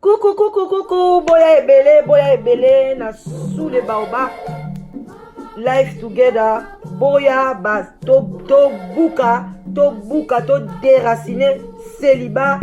Coucou, coucou, coucou, boya ebele, boya ebele, na sous le baobab. Life together, boya ba to to buka, to buka, to déraciner célibat,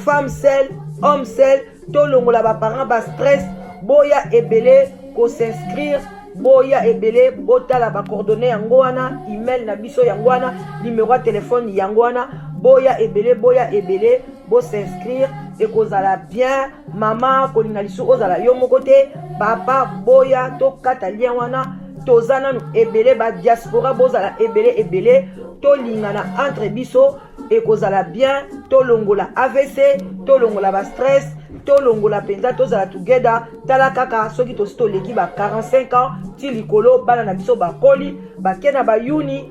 femme seule, homme seul, to longola ba parents ba stress, boya ebele ko s'inscrire boya ebele botala bacoordonne yango wana email na biso yango wana numero ya telefone yango wana boya ebele boya ebele bo s'inscrire ekozala bien mama kolinga lisu ozala yo moko te papa boya tokata lien wana toza nanu ebele ba diaspora bozala ebele ebele tolingana entre biso ekozala bien tolongola avc tolongola ba stress tolongola mpenza tozala together tala kaka soki tosi toleki ba 45 ans ti likolo bana na biso bakoli bake na bayuni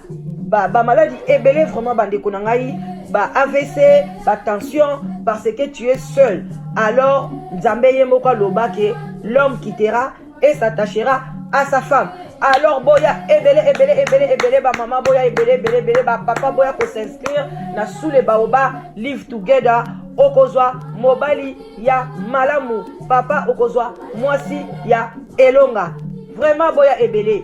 ba, ba maladi ebele vraiment bandeko na ngai ba avc ba tension parce que tu es seul alors nzambe ye moko aloba ke l'homme quittera et s'attachera à sa femme alors boya ebele ebele ebele ebele bamama boya ebele ebele ebele bapapa boya kosinscrire na sous le baoba live together okozwa mobali ya malamu papa okozwa mwasi ya elonga vraiment boya ebele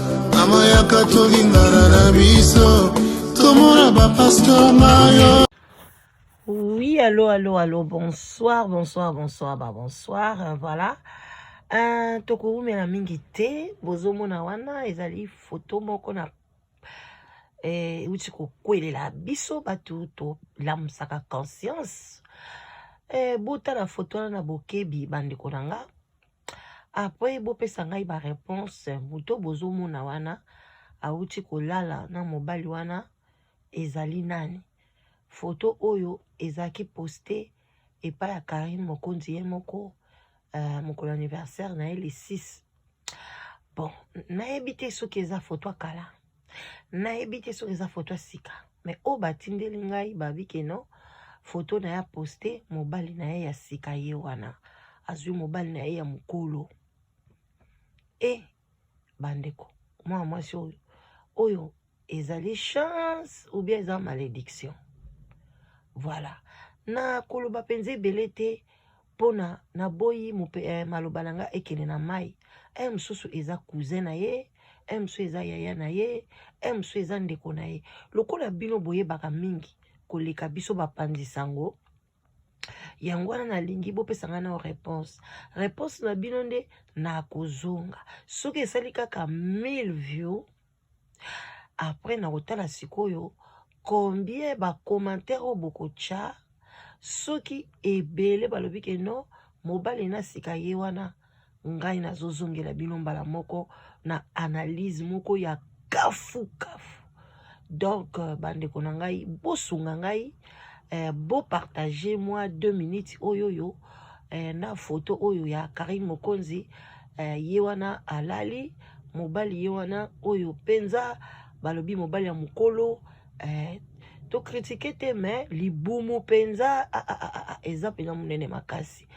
Mama yaka tolingana na biso tomona ba pasteur mayo. Oui, allô, allô, allô, bonsoir, bonsoir, bonsoir, bah bonsoir, euh, voilà. Euh, tokoumela mingi te bozomona wana ezali foto moko na eh, euti kokwelela biso bato tolamusaka conscience eh, botala foto wana na bokebi bandeko na nga Après bopesa ngai ba réponse moto bozomona wana awuti kolala na mobali wana ezali nani foto oyo ezalaki poste epai ya karine mokonzi ye moko uh, mokolo anniversaire na ye le 6 bon nayebi te soki eza foto ya kala nayebi te soki eza foto ya sika me oyo batindeli ngai babi keno foto na ye aposte mobali na ye ya sika ye wana azwi mobali na ye ya mokolo e bandeko mwana mwasi oyo oyo ezali chance ou bien eza malédiction voilà nakoloba mpenza ebele te pona naboyi mupe eh, maloba na nga ekende na mai eh, mosusu eza cousin na ye eh, mosusu eza yaya na ye eh, mosusu eza ndeko na ye lokola bino boyebaka mingi koleka biso bapanzi sango yango wana nalingi bopesa ngai nao réponse réponse na bino nde nakozonga soki esali kaka 1000 view après nakotala sikoyo combien bacommentaire oyo bokotya soki ebele balobi ke no mobali na sika ye wana ngai nazozongela bino mbala moko na analyse moko ya kafukafu donc euh, bandeko na ngai bosunga ngai eh, bo partage moi deux minutes oyo oyo eh, na foto oyo ya karine mokonzi eh, ye wana alali mobali ye wana oyo mpenza balobi mobali ya mokolo eh, tokritike te me libumu mpenza ah, ah, ah, ah, ah eza mpenza monene makasi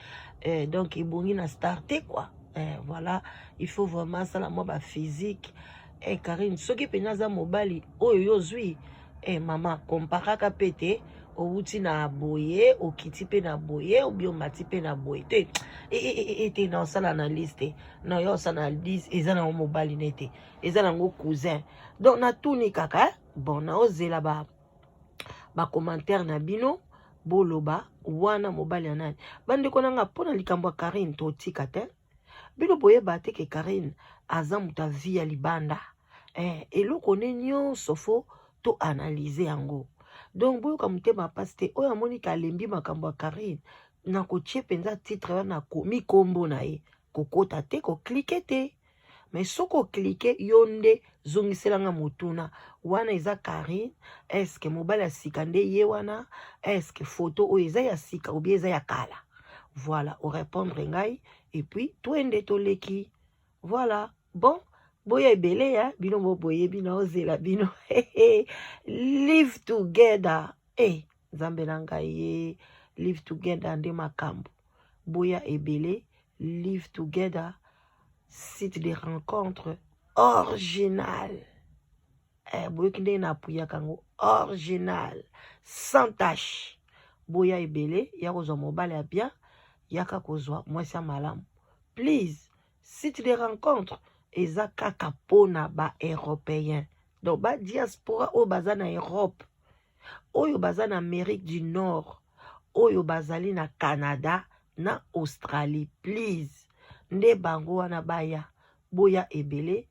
eh, donc ebongi na star te quoi eh, voilà il faut vraiment asala mwa baphysique eh Karine soki mpenza aza mobali oyo yo ozwi eh mama komparaka mpe te owuti na boye okiti mpe na boye obi omati mpe na boye te e, e, e, e te na osala analyse te na yo osala analyse eza nango mobali ne te eza nango cousin donc natuni kaka eh? bon naozela ba bacommentaire na bino boloba wana mobali ya nani bandeko na nga mpo na likambo ya karine totika te bino boyeba te ke Carine aza moto ya vie ya libanda eh, eloko ne nyonso fo to analyse yango donc boyoka motema mpasi te oyo amoni ke alembi makambo ya Carine na kotie mpenza titre wana akomi nkombo na ye kokota te koklike te mais soki oklike yo nde zongisela nga motuna wana eza Carine eske mobali ya sika nde ye wana eske foto oyo eza ya sika obi eza ya kala voilà orépondre ngai epuis twende toleki voilà bon boya ebele ya bino boboye bino ozela bino live together hey. Eh. nzambe na ngai ye live together nde makambo boya ebele live together site de rencontre original eh, boyoki ndenge napuyaka yango original sans tache boya ebele ya kozwa mobali ya bien yaka kozwa mwasi ya malamu please site de rencontre eza kaka mpona ba européen donc ba diaspora oyo baza na europe oyo baza na Amerique du Nord oyo bazali na Canada na Australie please nde bango wana baya boya ebele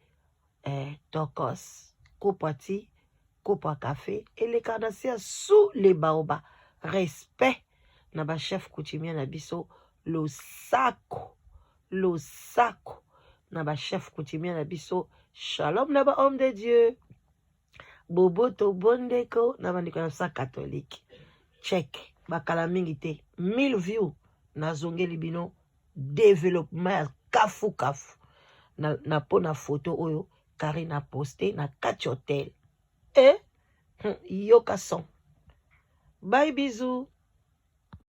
eh, tokos kopwa ti kopwa cafe eleka na se ya sous le baoba respect na bachef coutumier na biso losako losako na bachef coutumier na biso shalom na ba homme de dieu boboto bondeko na bandeko na biso ya katolike check bakala mingi te 1000 view nazongeli bino developement ya kafu kafu na, na mpo na foto oyo kari na poste na kati hotel e eh? hmm, yoka son bai bisous